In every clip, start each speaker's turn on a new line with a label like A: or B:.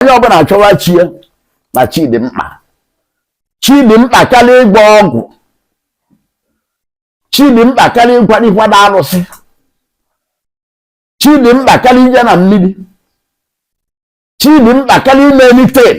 A: onye ọbụla achọwa chi ya na chi dị mkpa chi dị mkpa karịa ịgwọ ọgwụ chi dị mkpa karịa ịkwado ịkwado arụsị chi dị mkpa karịa ije na mmiri chi dị mkpa karịa ime anything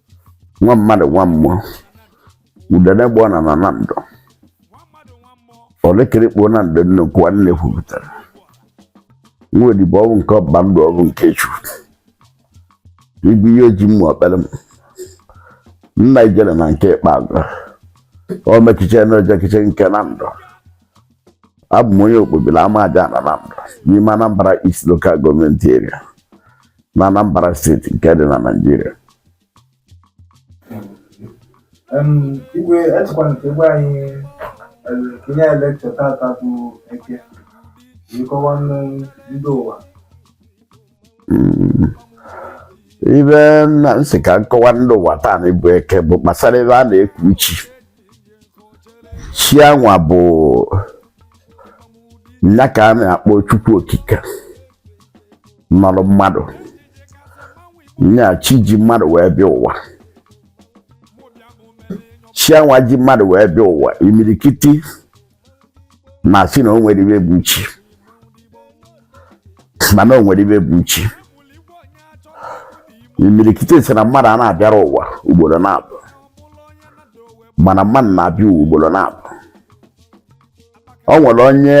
A: nwa mmadụ nwa mmụọ udene gba ọna na nando olekirikpo na ndị nnukwu nwanne kwupụtara nwa odibo ọbụ nke ọba ndụ ọbụ nke chukwu igwe ihe oji mmụọ ọkpere m nna ijele na nke ikpeazụ omekiche na ojekiche nke nando abụ m onye okpobili amajana nando n'ime anambra east local government area na Anambra state nke dị na Nigeria igwe echekwa nke gwa anyị ihe lecture tata bụ eke ịkọwa ndị ụwa hmm. ibe m sị ka m kọwa ndị ụwa taanị bụ eke bụ gbasara ibe a na-eku chi chi anwa bụ nya ka a na-akpọ chukwu okike nọrọ mmadụ nya chi ji mmadụ wee bịa ụwa chi anwa ji mmadụ wee bịa ụwa imirikiti na-asị na o nwerọ ibe bụ chi mana o nwere ibe bụ chi imirikiti sị na mmadụ a na-abịarọ ụwa ugboro naabọ mana mmadụ na-abịa ụwa ugboro naabọ o nwere onye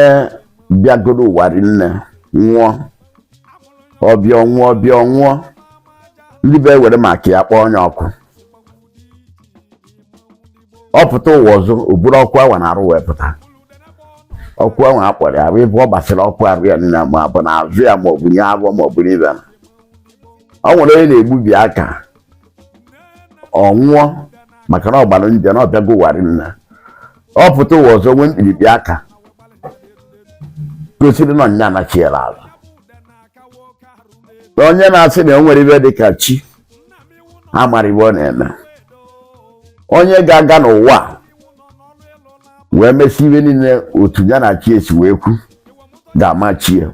A: bịagoro ụwa rinne nwụọ ọ bịa ọ nwụọ ọ bịa ọ nwụọ ndị be ewere maka ya kpọọ onye ọkụ ọ pụta ụwa ọzọ o buru ọkụ awa na arụ wee pụta ọkụ awa a kpọrọ ya ebe ọ gbasara ọkụ arụ ya niile ma ọ bụ na azụ ya ma ọ bụ n'afọ ma ọ bụ n'ibe na ọ nwere onye a na-egbubi aka ọ nwụọ maka na ọ gbara nje na ọ bịago ụwa rinne ọ pụta ụwa ọzọ nwee mkpirikpi aka gosiri na nya anachiela azụ na onye na-asị na o nwerọ ibe dị ka chi amarọ iwe ọ na-eme onye ga-aga n'ụwa wee mesị iwe niile otu ya na chi ya si wee kwu ga-ama chi ya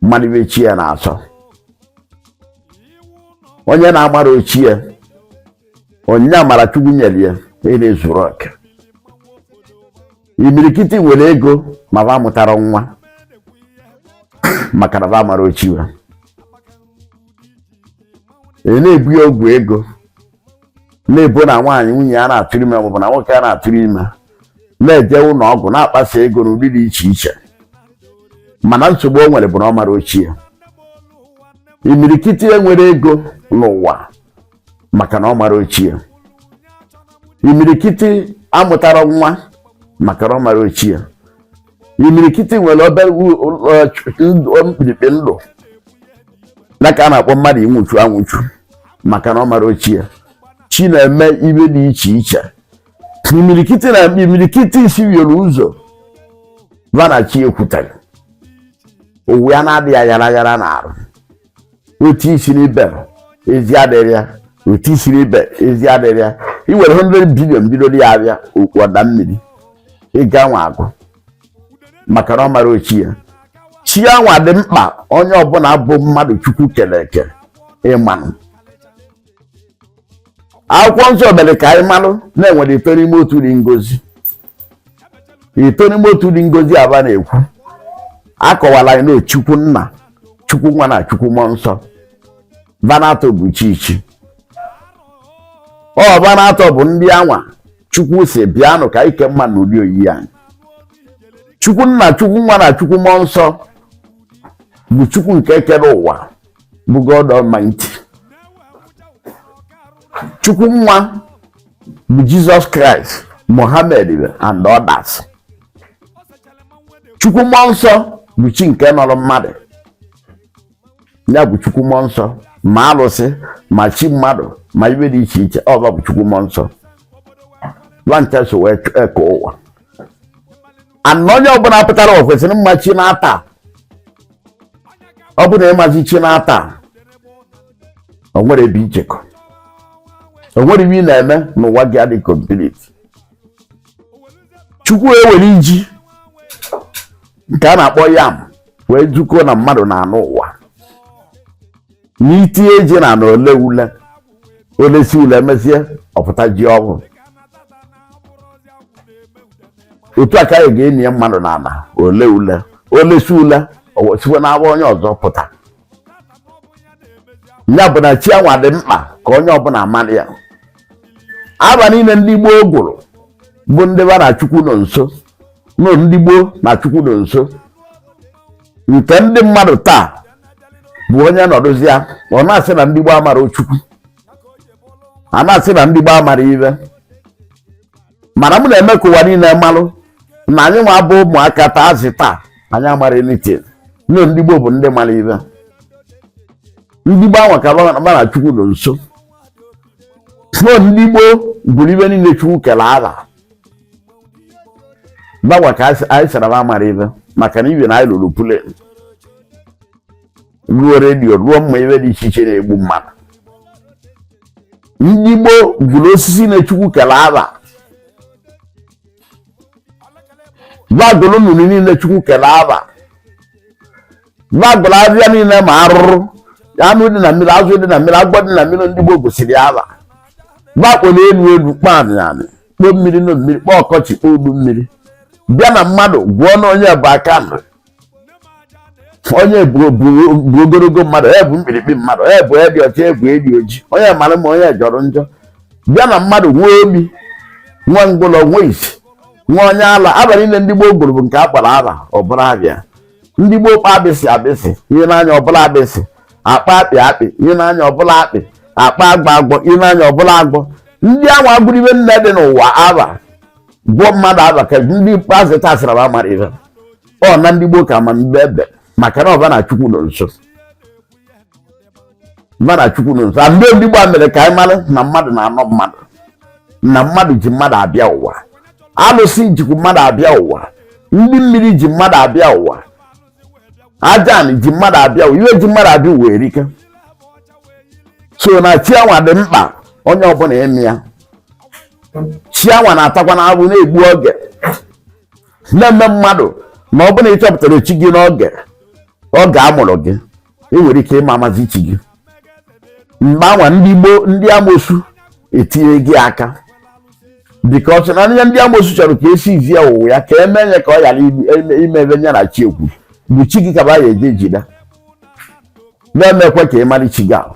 A: mara iwe chi ya na-asọ onye na-amarọ chi ya onyinye amara chukwu nyere ya a na-ezurọ oke imirikiti nwere ego ma ba amụtarọ nwa maka na ba amarọ chi ba e na-ebo ya ọgwụ ego na-ebo na nwaanyị nwunye ya na-atụrụ ime maọbụ na nwoke ya na-atụrụ ime na-eje ụlọ ọgwụ na-akpasa ego n'ụdị dị iche iche mana nsogbu o nwere bụ na ọ marọ chi ya imirikiti enwerọ ego n'ụwa maka na ọ marọ chi ya imirikiti amụtarọ nwa maka na ọ marọ chi ya imirikiti nwere obere mkpirikpi ndụ nke a na-akpọ mmadụ ịnwụchu anwụchu maka na ọ marọ chi ya chi na-eme ive dị iche iche imirikiti na imirikiti isi yoro ụzọ va na chi ya ekwuterọ uwe ya na-adị ya aghara aghara na arụ otu isi n'ibe ezi adịrị ya otu isi n'ibe ezi adịrị ya i were 100 bilion bidolu ya avịa okwu ọ daa mmiri ego anwa agwụ maka na ọ marọ chi ya chi anwa dị mkpa onye ọbụla bụ mmadụ chukwu kere eke ịmanụ akwụkwọ nsọ mere ka anyị malụ na e nwere ịtọ n'ime otu dị ngọzi ịtọ n'ime otu dị ngọzi a va na-ekwu akọwala anyị na chukwu nna chukwu nwa na chukwu mmụọ nsọ va n'atọ bụ isi chi ọ va n'atọ bụ ndị anwa chukwu sị bịanụ ka anyị kee mmadụ na ụdị oyiyi anyị chukwu nna chukwu nwa na chukwu mmụọ nsọ bụ chukwu nke kere ụwa bụ God Almighty chukwu nwa bụ Jizọs Kraịst Mohammed and others chukwu mmụọ nsọ bụ chi nke nọrọ mmadụ ya bụ chukwu mmụọ nsọ ma alụsị ma chi mmadụ ma ive dị iche iche ọ va bụ chukwu mmụọ nsọ va ncha so wee eke ụwa ana onye ọbụla pụtara ụwa kwesịrị ịma chi na-ata ọ bụ na ị mazi chi na-ata o nwerọ ebe i jekọ o nwerọ ive ị na-eme n'ụwa ga-adị komplit chukwu ewere ji nke a na-akpọ yam wee kọọ na mmadụ na-anọ ụwa na i tinye ji n'ana o lee ule o lesie ule mesie ọ pụta ji ọhụrụ otu a ka anyị ga-eni mmadụ n'ana o lee ule o lesie ule sikwa n'avọ onye ọzọ pụta ya bụ na chi anwa dị mkpa ka onye ọbụla mara ya ava niile ndị gboo gụrụ bụ ndị va na chukwu nọ nso nọ ndị gboo na chukwu nọ nso nke ndị mmadụ taa bụ onye nọdụzịa ọ na-asị na ndị gboo amarọ chukwu a na-asị na ndị gboo amarọ ive mana m na-eme ka ụwa niile malụ na anyị nwa bụ ụmụaka taa azị taa anyị amarọ anything na ndị gboo bụ ndị mara ive ndị gboo anwa ka va na Chukwu nọ nso na ndị gboo gụrụ ive niile Chukwu kere aha va nwa ka anyị sara m amara ive maka na ive na anyị lụrụ plane rụọ redio rụọ mma ive dị iche iche na-egbu mmadụ ndị gboo gụrụ osisi na chukwu kere aha va gụrụ mmiri niile chukwu kere aha va gụrụ avịa niile ma arụrụ anụ dị na mmiri azụ dị na mmiri agwọ dị na mmiri ndị gboo gụsịrị aha va kpọrọ elu elu kpọọ anị anị kpọọ mmiri na mmiri kpọọ ọkọchị kpọọ udu mmiri bịa na mmadụ gụọ na onye bụ aka nri onye bụ ogologo mmadụ onye bụ mkpirikpi mmadụ onye bụ edi ọcha egwu edi oji onye mara mma onye jọrọ njọ bịa na mmadụ nwee ogbi nwee ngwụlọ nwee isi nwee onye ala ava niile ndị gboo gụrụ bụ nke a kpọrọ ava ọ bụrụ ava ya ndị gboo kpọ agbịsị agbịsị i nee anya ọ bụrụ agbịsị a kpọ akpị akpị i nee anya ọ bụrụ akpị a kpọ agwọ agwọ i nee anya ọ bụrụ agwọ ndị anwa gụrụ ive niine dị n'ụwa ava gụọ mmadụ ava ka ndị ikpeazụ taa sịra va mara ive ọ na ndị gboo ka ma ive ebe maka na va na chukwu nọ nso va na chukwu nọ nso ndị ndị gboo mere ka anyị mara na mmadụ naanọ mmadụ na mmadụ ji mmadụ abịa ụwa alụsị jikwu mmadụ abịa ụwa ndị mmiri ji mmadụ abịa ụwa ajanị ji mmadụ abịa iwe ji mmadụ abịa i nwere ike sị na chi anwa dị mkpa onye ọbụla ịma ya chi anwa na-atakwa na abụ na-egbu oge na-eme mmadụ na ọ bụrụ na ị chọpụtara chi gị n'oge ọ ga-amụrụ gị e nwere ike ịma amazi chi gị mgbe anwa ndị gboo ndị amosu etinye gị aka because ihe ndị amosu chọrọ ka esi izi ya ụwa ya ka e mee onye ka ọ ghara ịma ebe onye na chi ekwu bụ chi gị ka va ya-eje jide va emekwe ka ị mara chi gị ahụ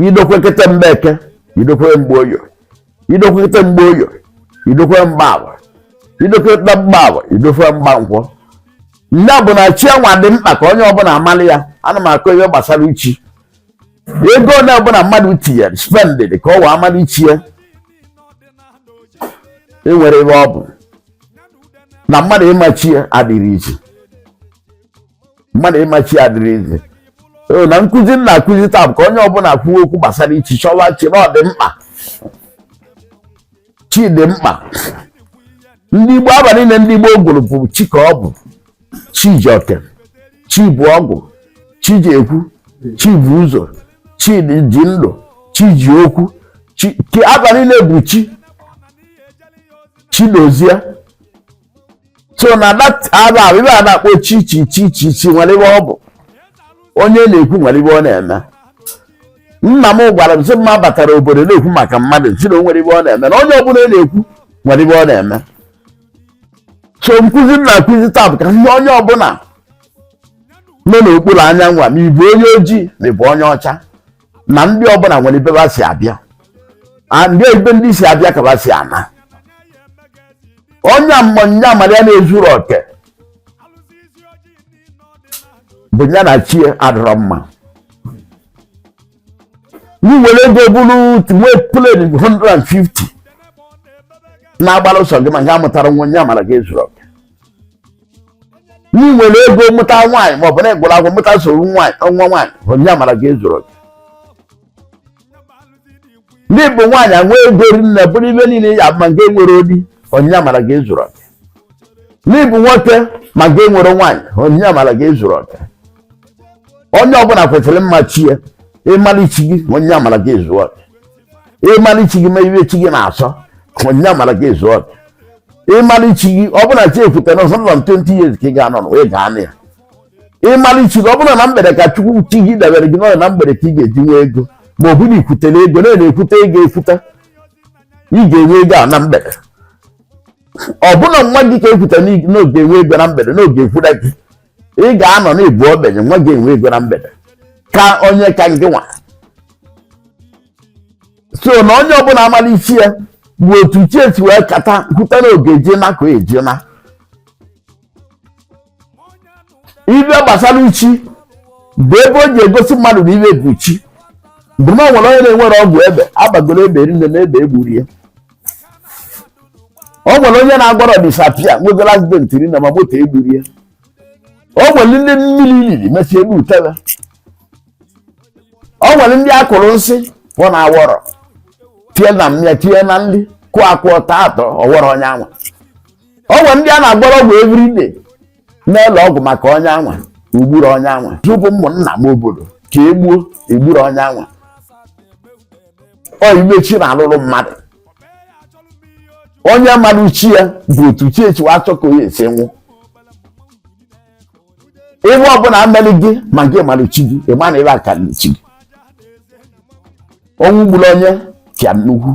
A: idokwe kete mgbe eke idokwe mgbe oye idokwute mgbe oye idokwe mgbe avọ idokwe mgbe avọ idokwe mgbe nkwọ na ọ bụ na chi anwa dị mkpa ka onye ọbụla amalị ya a na m akọ ihe gbasara chi gị o onye ọbụla mmadụ tinyere spendịrị ka ọ wee amalị chi ya enwere ebe ọ bụ na mmadụ ịma chi ya adịghị easy mmadụ ịma chi ya adịrọ easy so na nkụzi m na-akụzi taa bụ ka onye ọbụla kwuo okwu gbasara chi chọwa chi na ọ dị mkpa chi dị mkpa ndị igbo aba niile ndị igbo gụrụ bụ chi ka ọ bụ chi ji oke chi bụ ọgwụ chi ji ekwu chi bụ ụzọ chi ji ndụ chi ji okwu chi ki- aba niile bụ chi chi dozie so na that aba ahụ ibe a na-akpọ chi chi chi chi chi nwere ibe ọ bụ onye na-ekwu nwere ibe ọ na-eme nna m gwara m sị mma batara obodo na-ekwu maka mmadụ sị na o nwere ibe ọ na-eme na onye ọbụla na-ekwu nwere ibe ọ na-eme so nkụzi m na-akụzi taa bụ ka ihe onye ọbụla nọ n'okpuru anyanwụ a ma ị bụ onye ojii ma ị bụ onye ọcha na ndị ọbụla nwere ebe ba si abịa ndị ebe ndị si abịa ka ba si ana onye ma ụwa amara ya na-ezuru oke bụ ya na chi ya adịrọ mma i nwere ego bụrụ nwee plane 150 na-agbara ọsọ gị ma nke amụtara nwa ụwa amara gị ezuru na i nwere ego mụta nwaanyị maọbụ na ị gụrụ akwụkwọ mụta sọsọ nwa nwaanyị ụwa amara gị ezuru oke na ị bụ nwaanyị enwe ego ri nne bụrụ ibe niile ya ma nke nwere di ụwa amara gị ezuru oke na ị bụ nwoke ma nke nwere nwaanyị ụwa amara gị ezuru oke onye ọbụla kwesịrị ịma chi ya ịmara chi gị ụwa amara gị ezuru oke ịmara chi gị ma ibe chi gị na-asọ ụwa amara gị ezu oke ịmara chi gị ọ bụrụ na chi ekwute na ọsọ nọ 20 years ka ị ga-anọ na wee gaa na ya ịmara chi gị ọ bụrụ na mgbede ka chukwu chi gị debere gị n'ọrịa na mgbede ka ị ga-eji nwee ego ma ọ bụrụ i kwutere ego na na-ekwute ego ekwuta ị ga-enwe ego a na mgbede ọ bụrụ na nwa gị ka ekwute n'oge enwe ego na mgbede n'oge ekwuda gị ị ga-anọ n'ịbụ ogbenye nwa gị enwe ego na mgbede ka onye ka gị nwa so na onye ọbụla amara chi ya bụ otu chi esi wee kata kwuta na oge ji na ka eji na ibe gbasara chi bụ ibe o ji egosi mmadụ na ibe bụ chi bụ na ọ nwere onye na-enwerọ ọgwụ egbe a gbagoro egbe ri nne egbe egburo ya o nwere onye na-agwọrọ disappear nwegoro accident ri nne ma moto egburo ya o nwere ndị mmiri riri mesịa ebute ba o nwere ndị a kụrụ nsị pụ na awọrọ tie na mmịa tie na nri kụọ akụọ taa atọ ọwọrọ onye anwa o nwere ndị a na-agwọrọ ọgwụ everyday n'ụlọ ọgwụ maka onye anwa egburu onye anwa tupu ụmụnna m obodo ka e gbuo egburu onye anwa ọ ife chi na-alụrụ mmadụ onye mara chi ya bụ otu chi echiwa achọ ka onye esi nwụ ife ọbụla emeri gị ma gị mara chi gị ịma na ịba ka chi gị ọnwụ gburu onye pịa nnukwu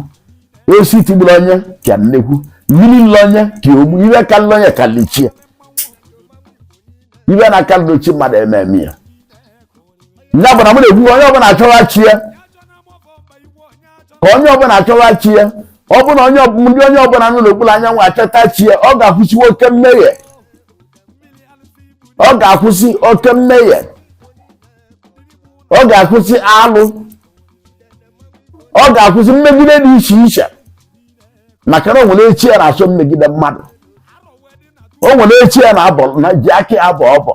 A: osisi tigburu onye pịa nnekwu mmiri lili onye pịa ogbu ife kalịlị onye kalị chi ya ife na-akalịrọ chi mmadụ ama eme ya ya bụ na m na-ekwu onye ọbụla achọwa chi ya ka onye ọbụla achọwa chi ya ọ bụ na onye ọb- ndị onye ọbụla nọ n'okpuru anyanwụ achọta chi ya ọ ga-akwụsịwa oke mmehie ọ ga-akwụsị oke mmehie ọ ga-akwụsị alụ ọ ga-akwụsị mmegide dị iche iche maka na o nwere chi ya na-achọ mmegide mmadụ o nwere chi ya na-abọ na ji aka ya abọ ọbọ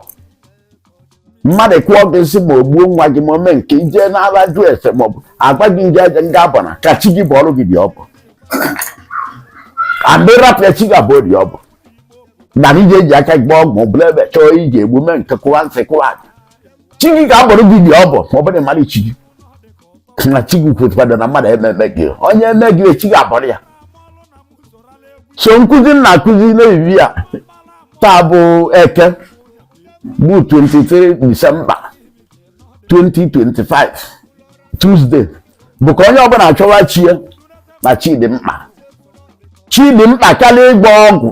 A: mmadụ kụọ gị nsị ma o gbuo nwa gị ma o mee nke ije n'ala jụ ese ma ọ bụ agwa gị nje aja nga abọ na ka chi gị bọọrọ gị dị ọbọ andị rapụ ya chi gị abọọ dị ọbọ na ije ji aka gị gbaa ọgwụ bụla ebe chọọ iji egbu mee nke kụwa nsị kụwa aja chi gị ga-abọrọ gị dị ọbọ ma ọ bụrụ na ị mara chi gị na chi gị kwetụkwado na mmadụ ama eme gị onye eme gị chi gị abọrọ ya so nkụzi m na-akụzi na evening a taa bụ eke bụ 23rd December 2025 Tuesday bụ ka onye ọbụla achọwa chi ya na chi dị mkpa chi dị mkpa karịa ịgba ọgwụ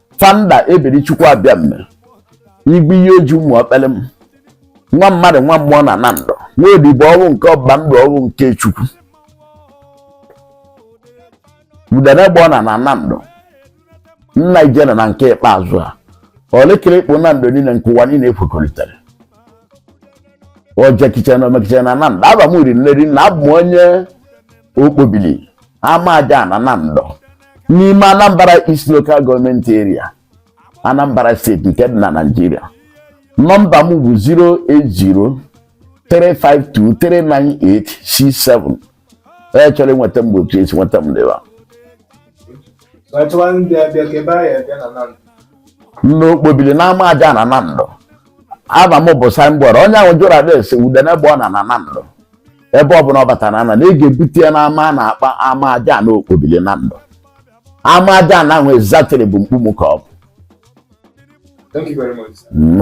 A: Fada Eberechukwu abịa mme igwe ihe oji ụmụ ọkpere m nwa mmadụ nwa mmụọ na Nando nwa odibo ohu nke ọba ndụ ohu nke Chukwu udene gba ọna na Nando nna ijele na nke ikpeazụ a olekere ịkpụ Nando niile nke ụwa niile ekwekọrịtara ojekiche na omekiche na Nando afa m ri nne ri na abụ m onye Okpobili Ama Ajaana Nando n'ime Anambra East Local Government Area Anambra State nke dị na Nigeria nọmba m bụ 08035239867 onye chọrọ ịnweta m bụ otu esi nweta m bịa n'Okpobili n'Ama Ajaana Nando afa m bụ signboard onye ị jụrụ address Udene gba ọna na Nando ebe ọbụla ọ batara na na ị ga-ebute ya n'ama a na-akpọ Ama Ajaana Okpobili Nando Ama Ajaana ahụ exactly bụ mkpu mụ ka ọ bụ Thank you very much. sir. Mm.